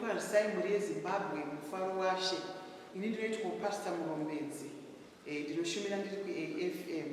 Parisai mhuri yeZimbabwe mufaro washe. Ini ndinoitwa Pastor Murombedzi. Eh, ndinoshumira ndiri kuAFM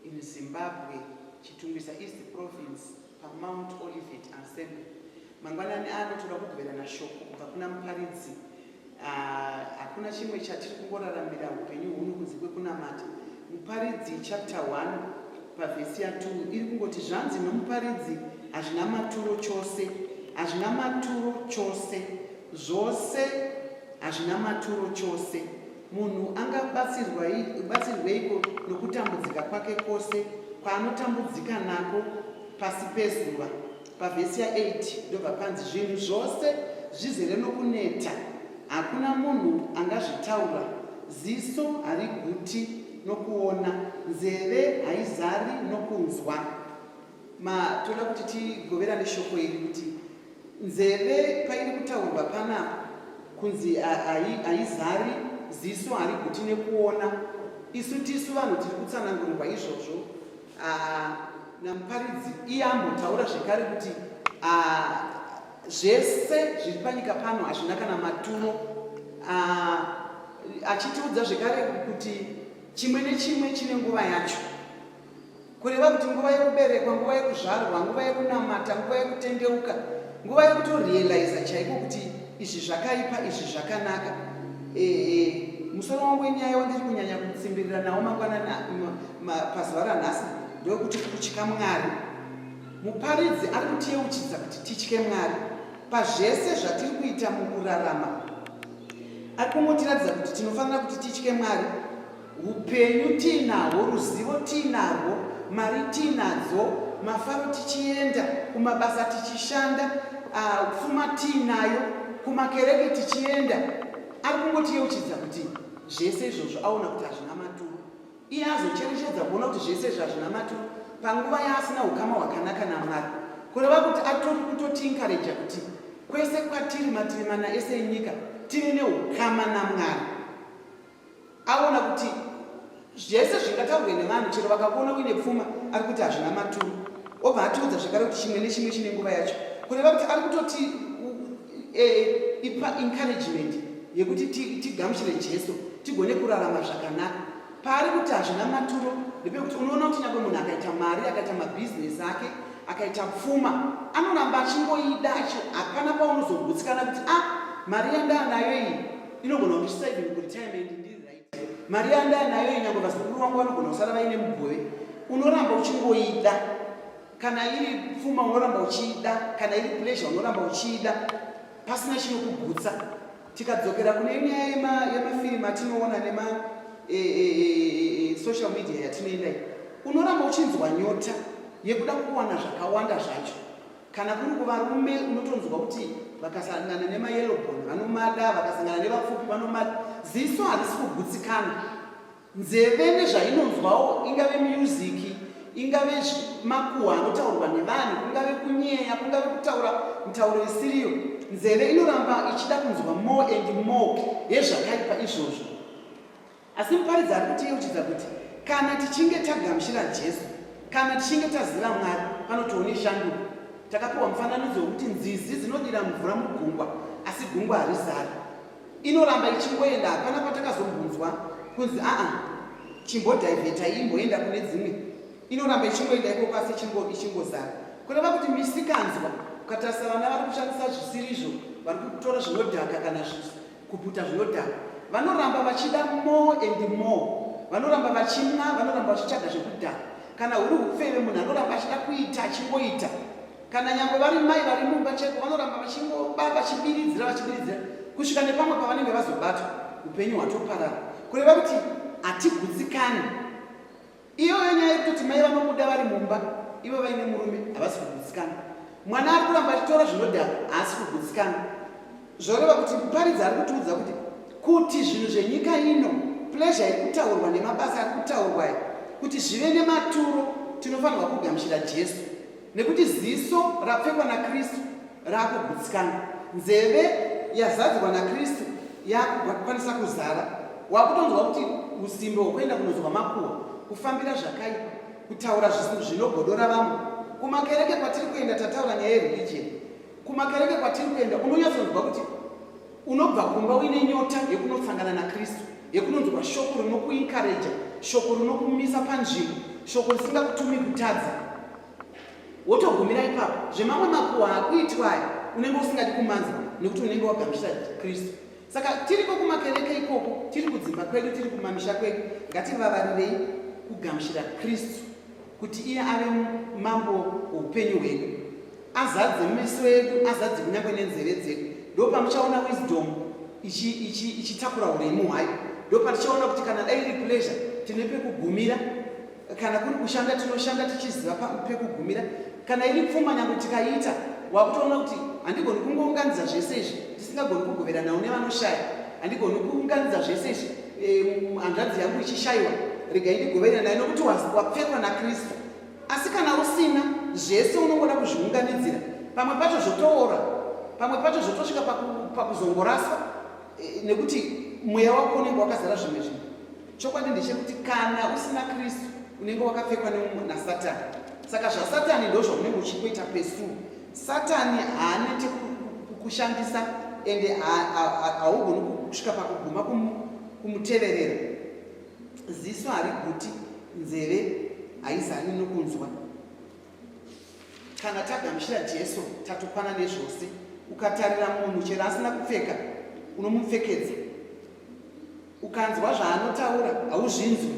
in Zimbabwe, Chitungwiza East Province, paMount Olivet Assembly. Mangwanani ano toda kugoverana shoko kubva kuna muparidzi Hakuna chimwe chatiri kungoraramira upenyu huno kunze kwekunamata. Muparidzi chapter 1 pavhesi ya 2 iri kungoti zvanzi nomuparidzi hazvina maturo chose, hazvina maturo chose, zvose hazvina maturo chose. Munhu angabatsirweiko nokutambudzika kwake kwose kwaanotambudzika nako pasi pezuva? Pavhesi ya 8 ndobva panzi zvinhu zvose zvizere nokuneta, hakuna munhu angazvitaura, ziso hariguti nokuona, nzeve haizari nokunzwa. Ma, toda kuti tigoverane shoko iri kuti nzeve pairi kutaurwa panapa kunzi haizari ziso hariguti nekuona isu tisu vanhu tiri kutsanangurirwa izvozvo Ah, namuparidzi iye ambotaura zvekare kuti ah, zvese zviri panyika pano hazvina kana maturo ah, achitiudza zvekare kuti chimwe nechimwe chine nguva yacho kureva kuti nguva yekuberekwa nguva yekuzvarwa nguva yekunamata nguva yekutendeuka nguva yekutorealiza chaiko kuti izvi zvakaipa izvi zvakanaka ehe musoro wangu wenyaya wandiri kunyanya kutsimbirira nawo mangwanana pazuva ranhasi ndokuti kutya mwari muparidzi ari kutiyeuchidza kuti titye mwari pazvese zvatiri kuita mukurarama ari kungotiratidza kuti tinofanira kuti titye mwari Upenyu tiinahwo, ruzivo tiinarwo, mari tiinadzo, mafaro tichienda, kumabasa tichishanda, ah, pfuma tiinayo, kumakereke tichienda. Ari kungotiyeuchidza kuti zvese izvozvo aona kuti hazvina maturo. Iye azocherechedza kuona kuti zvese izvo hazvina maturo panguva yaasina ukama hwakanaka namwari kureva kuti atori kutotiinkareja kuti kwese kwatiri mativi mana ese enyika tive neukama namwari aona kuti zvese zvingataurwe nevanhu chero vakakuona uine pfuma ari kuti hazvina maturo obva atiudza zvekare kuti chimwe nechimwe chine nguva yacho kureva kuti ari kutoti e, ipa encouragement yekuti tigamuchire jesu tigone kurarama zvakanaka paari kuti hazvina maturo ndepekuti unoona kuti nyangwe munhu akaita mari akaita mabhizinesi ake akaita pfuma anoramba achingoida hapana paunozogutsikana kuti a ah, mari yandanayo iyi inogona kuti saving retirement ndiri right mari yandaya nayo inyangwe vazukuru vangu vanogona kusara vaine mugove unoramba uchingoida kana iri pfuma unoramba uchiida kana iri pleasure unoramba uchiida pasina chinokugutsa tikadzokera kune nyaya yemafirimu atinoona nema e, e, e, social media yatinoendai unoramba uchinzwa nyota yekuda kuwana zvakawanda zvacho Kana kuri kuvarume unotonzwa kuti vakasangana nemayellow bone vanomada, vakasangana nevapfupi vanomada. Ziso harisi kugutsikana. Nzeve nezvainonzwawo ingave miyuziki, ingave makuhwa anotaurwa nevanhu, kungave kunyeya, kungave kutaura mitauro isiriyo. Nzeve inoramba ichida kunzwa more and more yezvakaipa izvozvo. Asi muparidzi ari kutiyeuchidza kuti kana tichinge tagamuchira Jesu, kana tichinge taziva Mwari, panotiwo neshanduko. Takapiwa mufananidzo wekuti nzizi dzinodira mvura mugungwa, asi gungwa harizari. Inoramba ichingoenda, hapana patakazombunzwa kunzi aa chimbodhivhetai imboenda kune dzimwe. Inoramba ichingoenda ikoko asi ichingozara. Kureva kuti misikanzwa, ukatarisa vana vari kushandisa zvisirizvo, vari kutora zvinodhaka kana zvizi, Kuputa zvinodhaka. Vanoramba vachida more and more. Vanoramba vachimwa, vanoramba vachitsvaga zvekudhaka. Kana huri hupfeve munhu anoramba achida kuita achingoita. Kana nyangwe vari mai vari mumba cheko vanoramba vachingoba vachibiridzira vachibiridzira kusvika nepamwe pavanenge vazobatwa upenyu hwatoparara. Kureva kuti hatigutsikani. Iyoyo nyaya yekuti mai vanobuda vari mumba ivo vaine murume havasi kugutsikana. Mwana ari kuramba achitora zvinodhaka haasi kugutsikana. Zvoreva kuti muparidzi ari kutiudza kuti kuti zvinhu zvenyika ino plezha iri kutaurwa nemabasa ari kutaurwa kuti zvive nematuro tinofanirwa kugamuchira Jesu. Nekuti ziso rapfekwa naKristu rakugutsikana, nzeve yazadzwa naKristu yakukwanisa kuzara, wakutonzwa kuti usimbe hwekuenda kunonzwa makuhwa, kufambira zvakaipa, kutaura zvisinhu zvinogodora vamwe. Kumakereke kwatiri kuenda, tataura nyaya yereligion, kumakereke kwatiri kuenda unonyatsonzwa kuti unobva kumba uine nyota yekunosangana nakristu yekunonzwa shoko rinokuinkareja shoko rinokumisa panzvimbo shoko risingakutumi kutadza wotogumira ipapo zvemamwe makuwa akuitwa aya unenge usingadi kumanzwa nekuti unenge wagamuchira kristu saka tiriko kumakereke ikoko tiri kudzimba kwedu tiri kumamisha kwedu ngativavarirei kugamuchira kristu kuti iye ave mambo weupenyu hwedu azadze meso edu azadze kunyangwe nenzeve dzedu ndo pamuchaona wisdom ichitakura ichi, ichi uremu hwayo ndo patichaona kuti kana dai iri pleasure tine pekugumira kana kuri kushanda tinoshanda tichiziva pekugumira kana iri pfuma nyange tikaiita wakutoona kuti handigoni kungounganidza zvese izvi ndisingagoni kugoveranawo nevanoshaya handigoni kuunganidza zvese izvi hanzvadzi yangu ichishaiwa regai ndigoverera naye nokuti wapfekwa nakristu asi kana usina zvese unongoda kuzviunganidzira pamwe pacho zvotoora pamwe pacho zvotosvika pakuzongoraswa e, nekuti mweya wako unenge wakazara zvimwe zvinhu chokwadi ndechekuti kana usina kristu unenge wakapfekwa nasatani saka zvasatani ndozvaunenge uchingoita pesuu Satani haanete kukushandisa ende haugoni kusvika pakuguma kumuteverera. Ziso hariguti, nzeve haizani nokunzwa. Kana tagamuchira Jesu, tatokwana nezvose. Ukatarira munhu chero asina kupfeka, unomupfekedza. ukanzwa zvaanotaura hauzvinzwi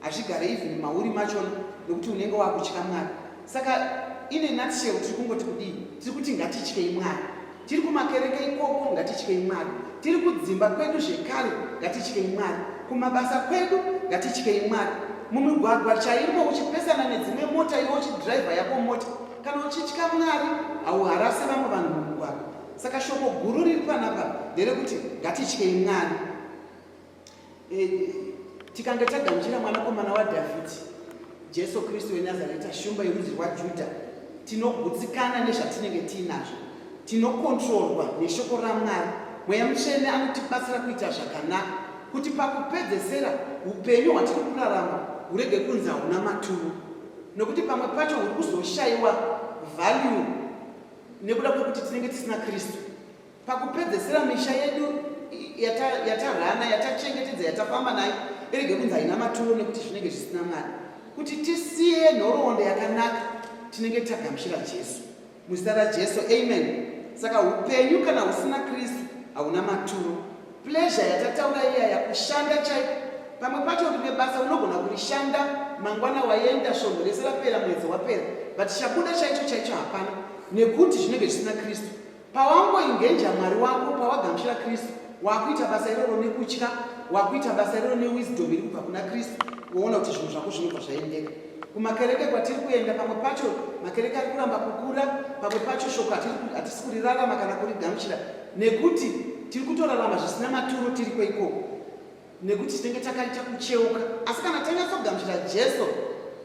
hazvigare even mauri machona nokuti unenge wakutya mwari saka ine nutshell tiri kungoti kudii tiri kuti ngatityei mwari tiri kumakereke ikoko ngatityei mwari tiri kudzimba kwedu zvekare ngatityei mwari kumabasa kwedu ngatityei mwari mumigwagwa chaimo uchipesana nedzimwe mota iwe uchidhiraivha yako mota kana uchitya mwari hauharase vamwe vanhu mumugwagwa Saka shoko guru riri panapa nderekuti ngatityei Mwari. E, tikange tagamuchira mwanakomana waDhavhidhi, Jesu Kristu weNazareta, shumba yerudzi rwaJudha, tinogutsikana nezvatinenge tiinazvo, tinokontrorwa neshoko raMwari. Mweya Mutsvene anotibatsira kuita zvakanaka, kuti pakupedzesera upenyu hwatiri kurarama hurege kunzi hauna maturo, nokuti pamwe pacho huri kuzoshaiwa value nekuda kwekuti tinenge tisina kristu pakupedzesera misha yedu yatarana yatachengetedza yatafamba nayo irege kunzi haina maturo nekuti zvinenge zvisina mwari kuti tisiye nhoroondo yakanaka tinenge tagamuchira jesu muzita rajesu amen saka upenyu kana husina kristu hauna maturo Pleasure yatataura iya yakushanda chaiko. Pamwe pacho uri nebasa unogona kurishanda mangwana waenda svondo rese rapera mwedzi wapera but chabuda chaicho chaicho hapana nekuti zvinenge zvisina Kristu. Pawangoingenja Mwari wako pawagamuchira Kristu wakuita basa iroro nekutya wakuita basa iroro newisdom iri kubva kuna Kristu woona kuti zvinhu zvako zvinobva zvaendeka. kumakereke kwatiri kuenda pamwe pacho makereke ari kuramba kukura pamwe pacho shoko hatisi kurirarama kana kurigamuchira nekuti tiri kutorarama zvisina maturo tiriko ikoko nekuti tinenge takaita kucheuka asi kana tanyatsogamuchira jesu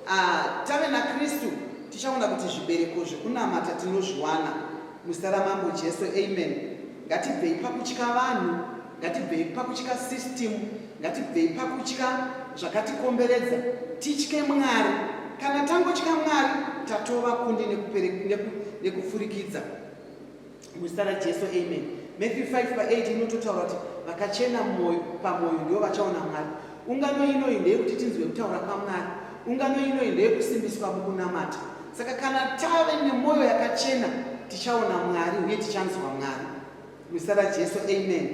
ah, tave nakristu tichaona kuti zvibereko zvekunamata tinozviwana muzita ramambo jesu amen ngatibvei pakutya vanhu ngatibvei pakutya system ngatibvei pakutya zvakatikomberedza titye mwari kana tangotya mwari tatova kundi nekupfurikidza neku, neku Muzita raJesu amen. Matthew 5 pa 8 inototaura kuti vakachena mwoyo pamwoyo ndivo vachaona Mwari. Ungano inoyi ndeyekuti tinzwe kutaura kwaMwari. Ungano inoyi ndeyekusimbiswa mukunamata. Saka kana tave nemwoyo yakachena tichaona Mwari uye tichanzwa Mwari. Muzita raJesu amen.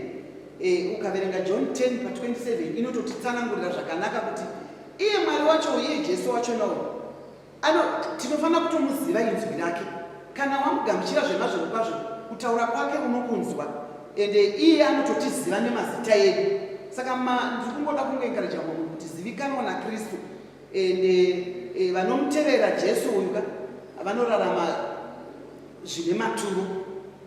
E, ukaverenga John 10 pa 27 inototitsanangurira zvakanaka kuti iye Mwari wacho uye Jesu wacho nawo Ano tinofanira kutomuziva inzwi rake. Kana wamugamuchira zvemazvo kwazvo, kutaura kwake unokunzwa. Ende iye anototiziva nemazita edu. Saka ndiri kungoda kungoenkareja munhu kuti zivikanwa naKristu. Ende e, vanomutevera Jesu uyu ka vanorarama zvine maturo.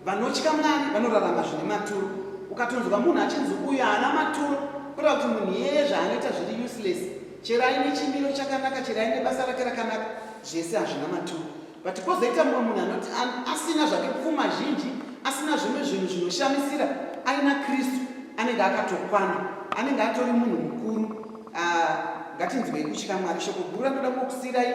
Vanotya Mwari vanorarama zvine maturo. Ukatonzwa munhu achinzi uyu haana maturo, kureva kuti munhu iyeye zvaanoita zviri useless. Chero aine chimiro chakanaka, chero aine basa rake rakanaka, zvese hazvina maturo. But kwozoita mumwe munhu anoti asina zvake pfuma zhinji, asina zvimwe zvinhu zvinoshamisira, aina Kristu anenge akatokwana, anenge atori munhu mukuru. Ah, ngatinzwei kutya mwari shoko guru ratoda kukusirai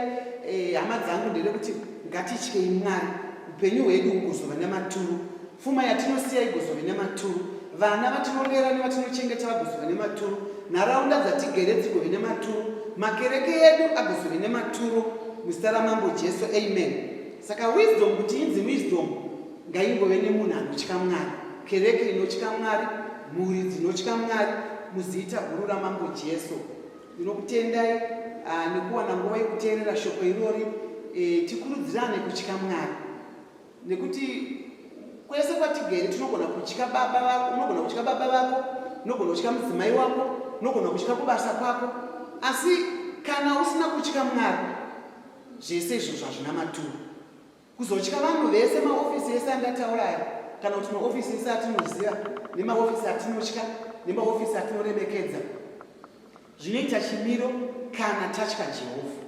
eh, hama dzangu nderekuti ngatityei mwari upenyu hwedu hugozova nematuru pfuma yatinosiya igozove nematuru vana vatinorera nevatinochengeta vagozove nematuru nharaunda dzatigere dzigove nematuru makereke edu agozove nematuru muzita ramambo jesu amen saka wisdom kuti inzi wisdom ngaingove nemunhu anotya mwari kereke inotya mwari mhuri dzinotya mwari muzita guru ramambo jesu ndinokutendai ah, nekuwana nguva yekuteerera shoko irori eh, tikurudzirane kutya mwari nekuti kwese kwatigere tinogona kutya baba vako unogona kutya baba vako unogona kutya mudzimai wako unogona kutya kubasa kwako asi kana usina kutya mwari zvese izvozvo hazvina maturo Kuzotya vanhu vese maofisi ese andataura aya kana kuti maofisi ese atinoziva nemaofisi atinotya nemaofisi atinoremekedza zvinoita chimiro kana tatya Jehovha,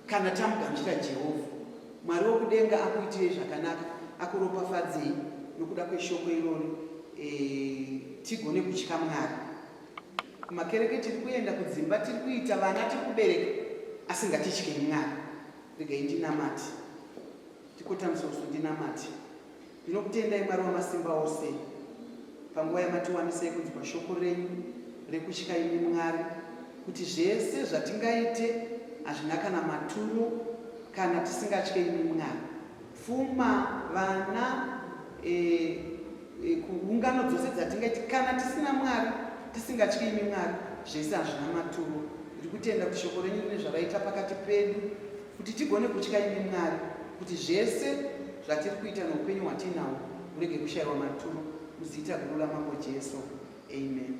kana tamugamuchira Jehovha. Mwari wokudenga akuitirei zvakanaka, akuropafadzei nokuda kweshoko irori e, tigone kutya Mwari. Kumakereke tiri kuenda, kudzimba tiri kuita, vana tiri kubereka, asi ngatitye Mwari. regai ndinamati tikotamisa usu ndinamati ndinokutendai mwari wamasimba ose panguva yamatiwanisai kunzwa shoko renyu rekutya imi mwari kuti zvese zvatingaite hazvina kana maturo kana tisingatye imi mwari Pfuma, vana, e, e, kuungano dzose dzatingaiti kana tisina Mwari, tisingatyi imi Mwari, zvese hazvina maturo. Ndiri kutenda kuti shoko renyu rine zvaraita pakati pedu kuti tigone kutya imi Mwari, kuti zvese zvatiri kuita noupenyu hwatiinawo murege kushayiwa maturo muzita guru ramambo Jesu. Amen.